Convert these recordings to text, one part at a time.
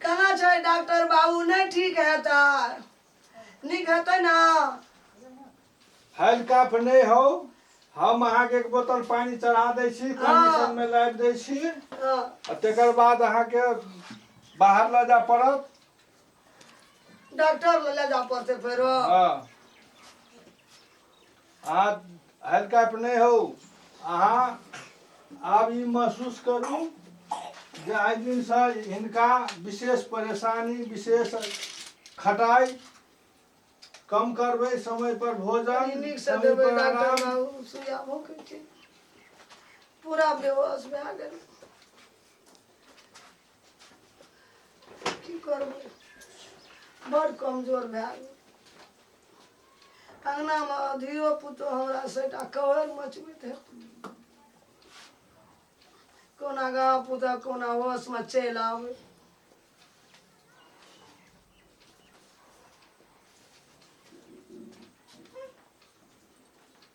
कहाँ छै डॉक्टर बाबू नहि ठीक हेता नीक हेतै ने हल्काफ नहि हौ हम अहाँके एक बोतल पानि चढ़ा दै छी कंडीशनमे लाबि दै छी हँ, आ तकर बाद अहाँके बाहर लऽ जाय पड़त डॉक्टर ले ले जा पड़ते फेरो हाँ अहाँ हल्का पर नहीं हो अहाँ आब ई महसूस करू जे आइ दिनसँ हिनका विशेष परेशानी विशेष खटाइ कम करबै समय पर भोजन कनी नीक से समय देबै पर डॉक्टर आराम। बाबू सुइया भूखै छै पूरा बेहोश भए गेल की करबै बड़ कमजोर भए गेल अङ्गनामे धियो पुतो हमरा सैटा कहर मचबैत है कोना गाँव पुता कोना होशमे चलि आबै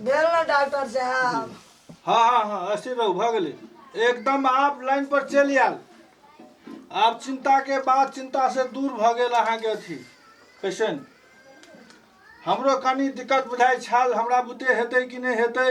भेल ना डॉक्टर साहब हाँ हाँ हाँ अस्थिर रहू भऽ गेलै एकदम आप लाइन पर चलि आयल आब चिंता के बाद चिंता से दूर भऽ गेल अहाँके अथी पेशेंट हमरो कनी दिक्कत बुझाइ छल हमरा बुते हेतै कि नहि हेतै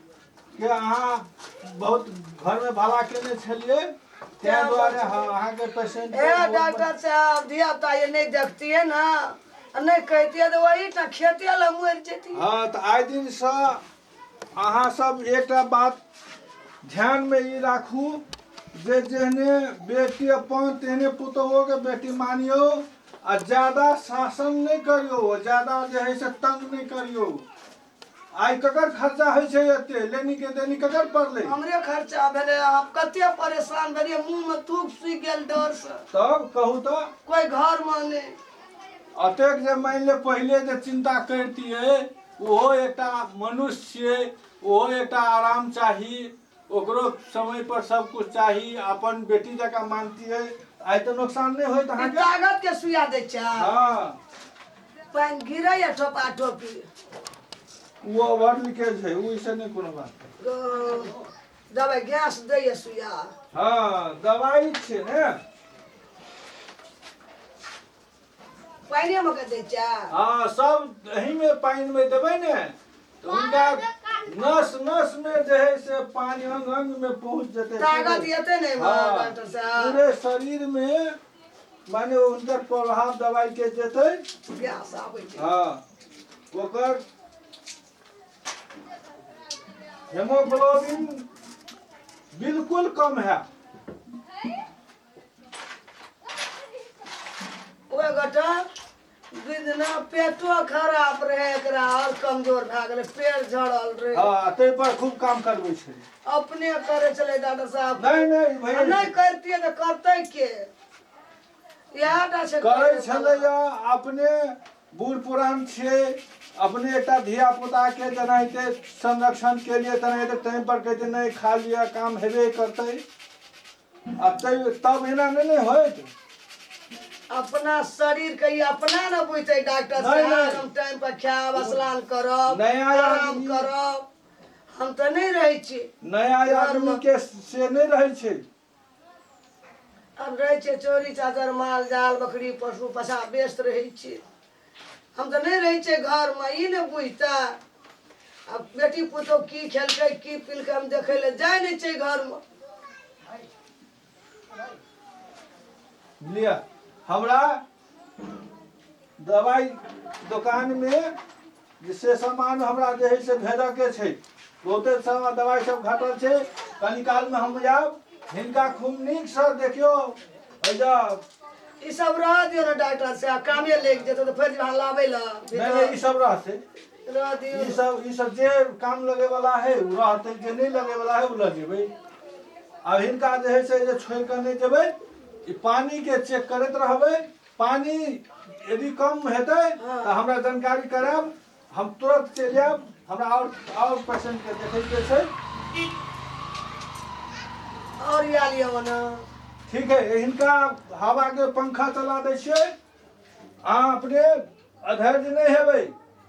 के अहाँ बहुत घर में भला केने छलिए ताहि दुआरे हाँ, अहाँ के पेशेंट ए डॉक्टर साहब धिया पुता ये नहीं देखतिए ना आ नहीं कहतिए तो वही टा खेते ला मर जेती हाँ तऽ आइ दिनसँ अहाँ सब एकटा बात ध्यानमे ई राखू जे जेहने बेटी अपन तेहने पुतोहोके बेटी मानियौ आ ज्यादा शासन नहि करियौ ज्यादा जे हइ से तंग नहि करियौ आइ ककर खर्चा होइ छै एते लेनी के देनी ककर पड़लै हमरे खर्चा भेलै अहाँ कते परेशान भेलियै मुंह में थूक सूखि गेल डर से तब कहू तऽ कोई घर में नहीं अतेक जे मानि ले पहिले जे चिंता करितियै ओहो एकटा मनुष्य छियै ओहो एकटा आराम चाही ओकरो समय पर सब कुछ चाही अपन बेटी जका मानतियै आइ तऽ नुकसान नहि होइत ई अहाँके तागत के सुइया दै छै हँ पानि गिरैया ठोपा ठोपी ओ ओवर लीकेज है ओ इसे नहि कोनो बात है। ओ, दबाइ गैस दैया सुइया हँ दवाई छै ने पानिए में के दै छै हाँ सब एही में पानी में देबै ने तो उनका नस नस में जे है से पानी अंग अंग में पहुंच जते ताकत एते नहीं बा हाँ। डॉक्टर साहब पूरे शरीर में माने उनकर प्रभाव दवाई के जेतै प्यास आबै छै हाँ ओकर हेमोग्लोबिन बिल्कुल कम है ओहि गोटा बिना पेटो खराब रहे एकरा और कमजोर भए गेलै पेट झड़ल रहे हाँ ताहि पर खूब काम करबै छै अपने करे चले डॉक्टर साहब नहीं नहीं आ भैया नहीं करतिए तो करते के इएह टा छै करै छलैया अपने बूढ़ पुरान छियै अपने एकटा धिया पुता के जेनाहिते संरक्षण के लिए तेनाहिते टाइम पर कहते नहि खा लिअ काम हेबे करतै आ तैयो तब एना नहि ने होइत अपना शरीर के ई अपना न बुझते डॉक्टर नहीं, साहब नहीं। हम टाइम पर खायब स्नान करब नहीं, आराम आराम नहीं। करब हम तो नहीं रहे छी नया घरमे। आदमी के से नहि रहै छै हम रहे छी चोरी चादर माल जाल बकरी पशु पशा व्यस्त रहे छी हम तऽ नहि रहै छियै घरमे ई ने बुझतै आ बेटी पुतहु की खेलकै की पिलकै हम देखै लए जाइ नहि छियै घरमे लिअ हमरा दवाइ दोकानमे जे से सामान हमरा जे है से भेजऽके छै बहुते सारा दवाइ सब घटल छै कनी कालमे हम जायब हिनका खूब नीकसँ देखियौ एहिजा ई सब रह दियो ने डॉक्टर से कामे लागि जेतै तऽ फेर जहाँ लाबै लए नहि नहि ई सब रहतै रह दियो ई सब ई सब जे काम लगे वाला है ओ रहतै जे नहि लगे वाला है ओ लऽ जेबै आब हिनका जे है से जे छोड़ि कऽ नहि जेबै ई पानिके चेक करैत रहबै पानी यदि कम हेतै तऽ हमरा जानकारी करायब हम तुरंत चलि जायब हमरा आओर आओर पेशेंट के देखै के छै और या लिया मना ठीक है हिनका हवा के पंखा चला दै छियै अहाँ अपने अधैर्य नहि हेबै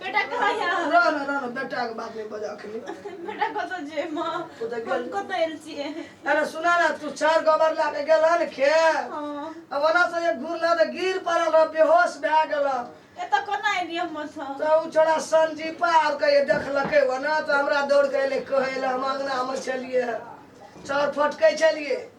बेटा कहाँ यऽ रह न रह न बेटा के बात नहीं बजा अखनी बेटा कतऽ जे माँ ओ तऽ गेल- हम कतऽ आयल छियै अरे सुना ना तू चार गोबर ला के गेल हन खे हँ अब ओना से एक घूर ला तऽ गिर पड़ल रह बेहोश भए गेल हन। एतऽ कोना एलियै हम ओतऽ तऽ उ छोड़ा संजीपा आब कहिए देखलकै वना तऽ हमरा दौड़ के एलै कहै लए हम अंगना मे छलियै चौर फटकै छलियै